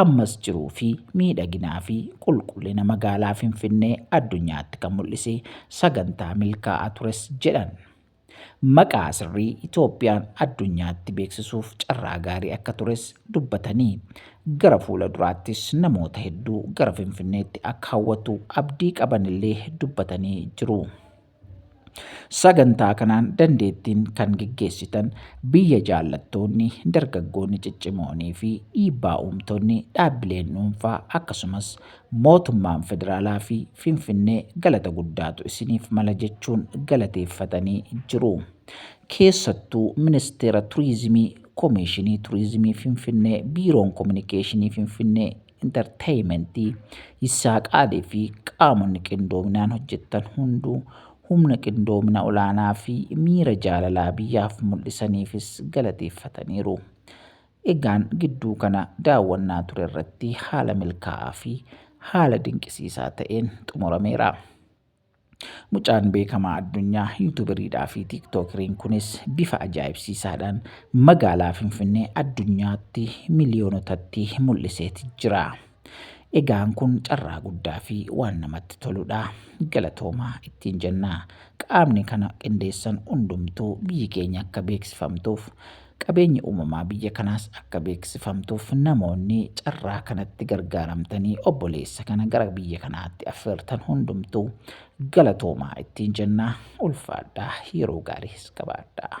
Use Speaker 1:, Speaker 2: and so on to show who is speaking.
Speaker 1: Ammas jiruu fi miidhaginaa fi qulqullina magaalaa Finfinnee addunyaatti kan mul'ise sagantaa milkaa'aa tures jedhan. Maqaa sirrii Itoophiyaan addunyaatti beeksisuuf carraa gaarii akka tures dubbatanii gara fuula duraattis namoota hedduu gara Finfinneetti akka hawwatu abdii qabanillee dubbatanii jiru. Sagantaa kanaan dandeettiin kan geggeessitan biyya jaallattoonni, dargaggoonni ciccimoonii fi dhiibbaa uumtonni, dhaabbileen dhuunfaa akkasumas mootummaan federaalaa fi Finfinnee galata guddaatu isiniif mala jechuun galateeffatanii jiru. Keessattuu Ministeera Turiizimii, Komiishinii Turiizimii Finfinnee, Biiroon Kominikeeshinii Finfinnee, Intarteeyimentii, Yissaaqaalii fi qaamonni qindoominaan hojjettan hunduu humna qindoomina olaanaa fi miira jaalalaa biyyaaf mul'isaniifis galateeffataniiru. Egaan gidduu kana daawwannaa ture irratti haala milkaa'aa fi haala dinqisiisaa ta'een xumurameera. Mucaan beekamaa addunyaa yuutuberiidhaa fi tiiktookiriin kunis bifa ajaa'ibsiisaadhaan magaalaa Finfinnee addunyaatti miliyoonotatti mul'iseeti jira. Egaan kun carraa guddaa fi waan namatti toludha. Galatoomaa ittiin jenna. Qaamni kana qindeessan hundumtuu biyyi keenya akka beeksifamtuuf Qabeenyi uumamaa biyya kanaas akka beeksifamtuuf namoonni carraa kanatti gargaaramtanii obboleessa kana gara biyya kanaatti affeertan hundumtuu galatoomaa ittiin jenna. Ulfaadhaa yeroo gaariis qabaadhaa.